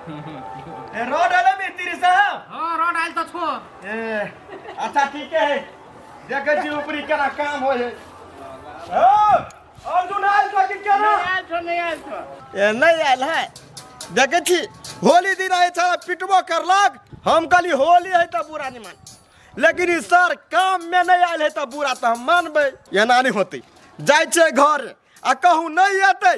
ए road आला मिस्त्री साहब ओ रोड आयल तो छो ए अच्छा ठीक है देखे छी ऊपरी केना काम हो है ओ अर्जुन आयल तो कि केना आयल छो नहीं आयल छो ए नहीं आयल है देखे छी होली दिन आए छा पिटबो करलक हम कहली होली है तो बुरा नहीं मान लेकिन ई सर काम में नहीं आयल है तो बुरा तो हम मानबे एना नहीं होते जाय छै घर आ कहूँ नहीं एतै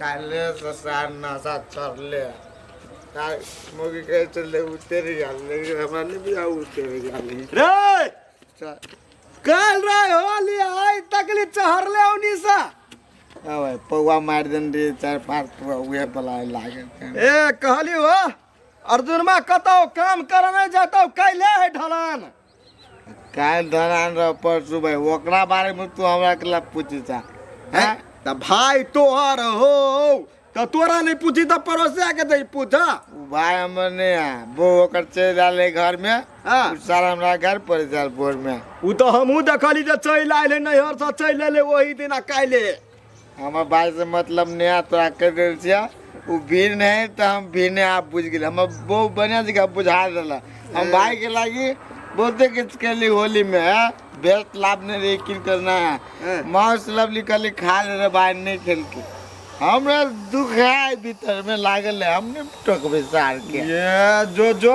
काल्हिसँ सार नशा चढ़ले तार मुर्गी कहै चलले उतरि गेल लेकिन हमरा नहि बुझा उतरि गेल रे चल काल रे होली आइ तकली चहरले उनी सा अबे पौआ मारि देने रहिए चारि पाँच पौआ उहे बला लागल छै। ए कहली हो अर्जुनमा कतौ काम करने जतौ कैले है ढलान काल्हि धरान रह परसू भाई ओकरा बारे में तू हमरा के ला पूछी सा हैं? त भाई तोहर हो त तोरा नहीं पूछी त पड़ोसिया के दे पूछ उ भाई हमर ने है वो ओकर चल जाले घर में हाँ। उ साल हमरा घर पर जाल बोर में उ तो हमहू देखली जे चल आइले नैहर से चल अले वही दिन आ काल्हि हमर बाज से मतलब नहि आयत तोरा कहि देल छियै ओ भीड़ नहि तऽ हम भीड़ नहि आब बुझि गेलियै हमर बहुत बढ़िआँ जगह बुझा देलक हम भायके लागी बहुते किछु केली होलीमे बेस्ट लाभ नहि रही की करना है माउस लवली कहली खा ले रे भाय नहि खेलके हमरा दुख है भीतरमे लागल है हम नहि टोकबै सारके ये जो जो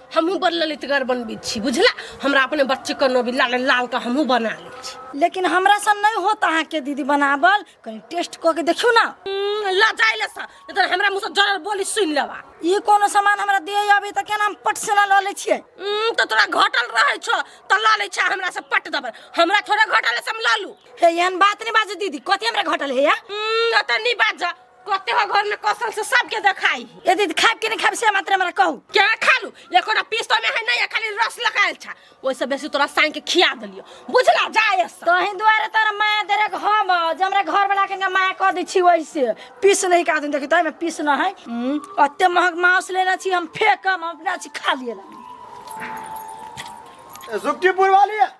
हमहूँ बड़ ललितगर बनबै छी बुझला हमरा अपने बच्चेके नाम भी लाल लालके हमहूँ बना लै छी लेकिन हमरा सन नहीं होता है के दीदी बनावल कहीं टेस्ट कऽ के देखियो ना हम्म, लजाइ ले सा नहि तऽ हमरा मुँहसँ जरल बोली सुनि लेबा ई कोनो सामान हमरा दे अबे तऽ केना हम पट से ना लऽ लै छियै हम्म, तऽ तोरा घटल रहै छौ तऽ लऽ लै छा हमरा से पट देबै हमरा थोड़े घटल है से हम लऽ लू हे एहन बात नहीं बाजू दीदी कथी हमरा घटल है या हम्म, एतऽ नहि बाजऽ कते हो घर में कौशल से सबके देखाई यदि खाब के नहीं खाब से मात्र हमरा कहू क्या खालू एको ना पीस तो में है नहीं खाली रस लगायल छा ओइ से बेसी तोरा साइन के खिया दलियो बुझला जाए से तो ही द्वारे तोरा माया देरे के हम जे हमरा घर वाला के माया कह दै छी वैसे पीस नहीं का देखी तो में पीस ना है अते महग मांस लेना छी हम फेकम हम अपना छी खा लिए लगी सुक्तिपुर वाली है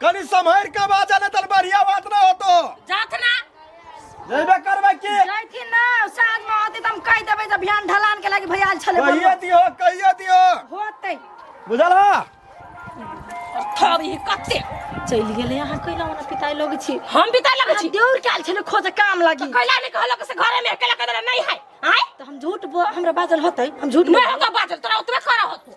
कनी सम्हर के बाजा ने तल बढ़िया बात ना होतो जात ना जइबे करबे की जैथिन ना साँझ में होती तम कह देबै जब बिहान ढलान के लागी भैया छले कहिए दियो कहिए दियो होतै बुझल हा थब ई कते चलि गेलै अहाँ कैला ओना पिताई लग छी हम पिता लग छी देउर काल छले खोज काम लागी कैला ने कहलो के से घरे में अकेला कदर नहीं है आय त हम झूठ बो- हमरा बाजल होतै हम झूठ नहीं होगा बाजल तोरा उतबे करा होतो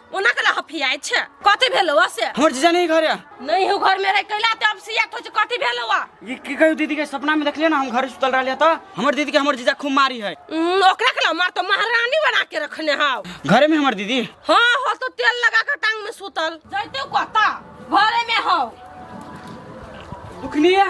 ओना कला हफियाइ छै कथी भेलौ आ से हमर जीजा नहीं घर है नहीं हो घर में रह कैला त अब सिया तो कथी भेलौ आ ये की कहियो दीदी के सपना में देखलिए ना हम घर सुतल रहलिए तो हमर दीदी के हमर जीजा खूब मारी है उम्म, ओकरा कला मार तो महारानी बना के रखने हाव घरे में हमर दीदी हां हो तो तेल लगा के टांग में सुतल जैते कहता घरे में हो दुखनी है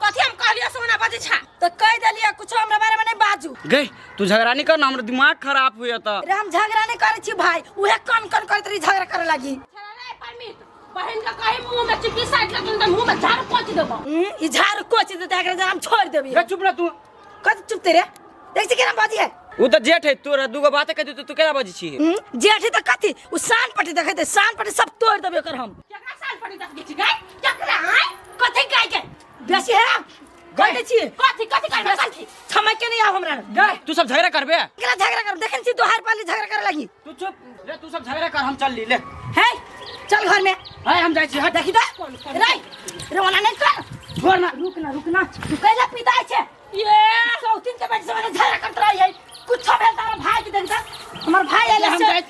कथी हम कहलियो सोना बाजी छा तो कह देलिए कुछ हमरा बारे में नहीं बाजू गई तू झगड़ा नहीं कर ना हमरा दिमाग खराब हुए तो अरे हम झगड़ा नहीं करे छी भाई उहे कन कन करत रही झगड़ा करे लगी बहन का कहे मुंह में चिपी साइड लगे मुंह में झाड़ पोंछ देबो हम्म, ई झाड़ कोच देते एकरा हम छोड़ देबी चुप ना तू कत चुप ते रे देख से केना बाजी है उ त जेठ है तोरा दूगो बात कह दे तू केना बाजी छी हम्म, जेठ है त कथी उ सान पटी देखै ते सान पटी सब तोड़ देबे कर हम केकरा साल पड़ी तक के छिकै केकरा है कथी गाय के बेसी है गई छी कथी कथी करबे कथी समय के नहीं आव हमरा गई तू सब झगड़ा करबे केकरा झगड़ा कर देखन छी दोहार पाली झगड़ा करे लगी तू चुप ले तू सब झगड़े कर हम चल ली ले है चल घर में है हम जाई छी हट देखी तो रे रोना नहीं कर छोड़ ना रुक ना रुक ना तू कैला पिता छे ये सौतिन के बैठ से झगड़ा करत रही है कुछ भेल तारा भाई के देखता हमर भाई ले आइले हम से जाई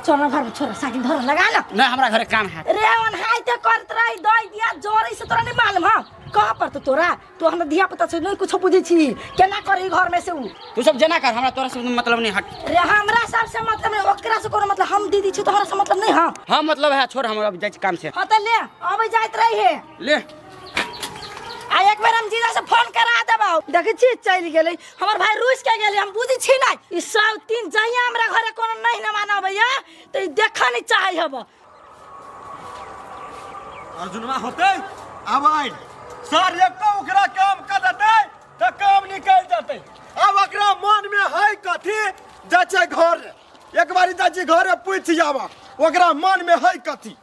चल ना घर में छोरा साइकिल धर लगा लो ना हमरा घरे काम है रे ओन हाय ते करत रही दई दिया जोरी से तोरा नहीं मालूम हम कहां पर तो तोरा तू हमरा धिया पुता से नहीं कुछ बुझे छी केना करी घर में से उ तू सब जना कर हमरा तोरा से मतलब नहीं हट रे हमरा सब से मतलब नहीं ओकरा से कोनो मतलब हम दीदी छी तोहरा से मतलब नहीं हां हां मतलब है छोड़ हम अब जाय काम से हां त ले अबे जाइत रही है ले आ एक बार हम जीजा से फोन करा देबो देखै छी चल गेलै हमर भाई रूस के गेलै हम बुझी छी नै ई सब तीन जहिया हमरा घरे कोनो नहीं न मानबैया त ई देखा नै चाहै हबो अर्जुनवा होते अब आइ सर एको ओकरा काम कर देते तो काम निकल जाते अब ओकरा मन में है कथी जाचे घर एक बारी जाचे घर पूछ जावा ओकरा मन में है कथी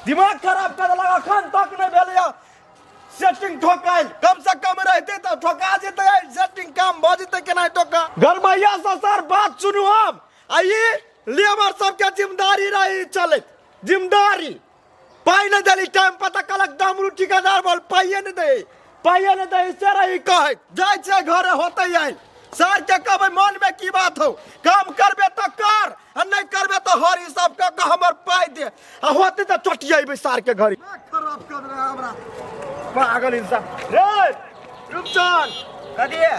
दिमाग खराब कर लगा अखन तक नहीं भेल या सेटिंग ठोकाइल कम से कम रहते तो ठोका जेते सेटिंग काम भ जेते केना ठोका गरमैया से सर बात सुनू हम आइए लेबर सबके जिम्मेदारी रही चले जिम्मेदारी पाई नहीं दिली टाइम पता कलक डमरू ठिकादार बोल पाइए नहीं दे पाइए नहीं दे से रही कहे जाए छे घरे होते आए सर के कब मन में की बात हो काम करबे तो कर आ नहीं करबे तो हरी सब के कह हमर पाई दे आ होते तो चोटी आइबे सर के घरी खराब कर रहे हमरा पागल इंसान रे रुपचान कदिए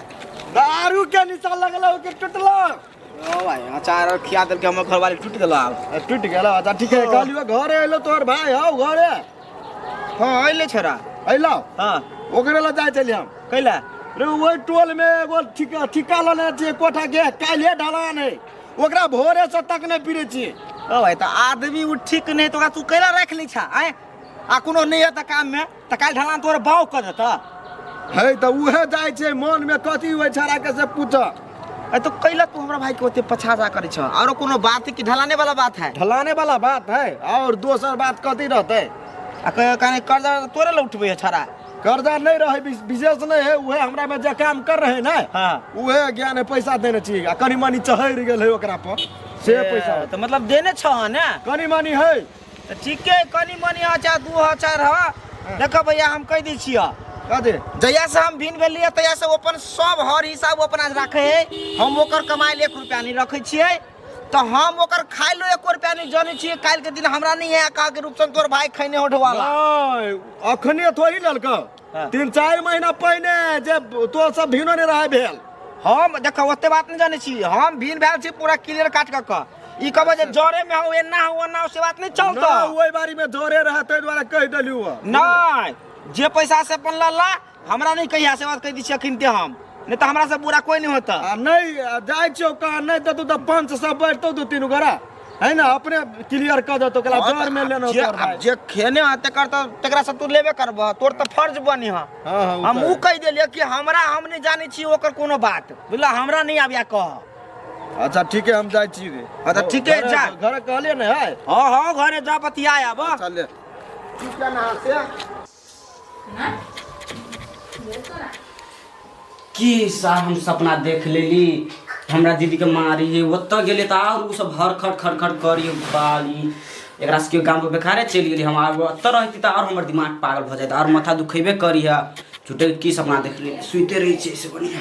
दारू के निशा लगल हो कि टूटल अचार और खिया देलके हमर घरवाली टूट गेलो आब टूट गेलो अच्छा ठीक है कहलियो घरे एलो तोहर भाई हौ घरे हां अइले छोरा अइलो हां ओकरे ल जाय चली हम कैला रे ओइ टोल में एगो ठिका ठिका लने जे कोठा के काल्हे ढलान है ओकरा भोरे से तक नहीं पीरे छी ओ भाई त आदमी उ ठीक नहीं तो तू कैला रख ले छा आए आ कोनो नहीं है त काम में तऽ काल्हि ढलान तोहर बाउ कऽ देतऽ है तऽ उहे जाइ छै मन में कथी होइ छड़ा के से पूछ ए तो कैला तू हमरा भाई के ओते पछाजा करै छ आरो कोनो बात है कि ढलाने वाला बात है ढलाने वाला बात है और दोसर बात कथी रहते आ कहे कने कर्जा तोरे ले उठबै छड़ा कर्जा नहीं रहे विश- विशेष नहीं है उहे हमरा में जे काम कर रहे ना हाँ। उहे ज्ञान है पैसा देने चाहिए आ कनी मनी चहर गेल है ओकरा पर से पैसा तऽ मतलब देने छ ने कनी मनी है तऽ ठीके कनी मनी हँ चाहे दू हँ चारि हँ देखऽ भैया हम कहि दै छियऽ कह दे जहिया से हम भिन भेलियै तहिया से ओ अपन सब हर हिसाब ओ अपना राखे है हम ओकर कमाइल एक रुपया नहीं रखे छियै तो हम ओकर खाइलो एको रुपया नहीं जाने छियै काल्हि के दिन हमरा नहीं है कहा के रूपसन तोर भाई खैने होठ वाला ओए, अखने थोड़ी ललका हाँ। तीन चारि महीना पहिने जे तोहर सब भिनो नहि रहै भेल हम देखो ओते बात नहीं जाने छी हम भीन भेल छी पूरा क्लियर काट कऽ कऽ ई कहबो जे जरे में हो एना हो ओना हो से बात नहीं चलतो ना ओहि बारी में जोरे रहै ताहि दुआरे कहि देलियौ हँ। नहीं जे पैसा से अपन लला हमरा नहीं कहिया से बात कहि दी छी अखन ते हम नहीं तो हमरा से बुरा कोई नहीं होता आ नहि आ जाइ छियौ कहाँ नहि देतौ तऽ पंच सब बैठतौ दू तीन गोरा है ना अपने क्लियर कर दो तो कला जोर में लेना जे- तोर भाई जे खेने है तेकर तो तेकरा से तू लेबे करबह तोर तो फर्ज बनी है हां हां हम ऊ कह देलिए कि हमरा हम नहीं जाने छी ओकर कोनो बात बुझला हमरा नहीं आबिया कह अच्छा ठीक है हम जाय छी रे अच्छा, ठीक है, जा। घर कहले ने है हाँ हाँ घरे जा बतिया आब चल ले ठीक है ना से की साहब हम सपना देख लेली हमरा दीदी के मारी है ओतऽ गेले तऽ आर उ सब हर खट खट खट करी बाली एकरा सबके गाँव के बेकारे चलि गेली हम आब ओतऽ रहती तऽ आर हमर दिमाग पागल भऽ जाइत आर माथा दुखेबे करी है झूठे के की सपना देख लेली सुते रही छै से बढ़िया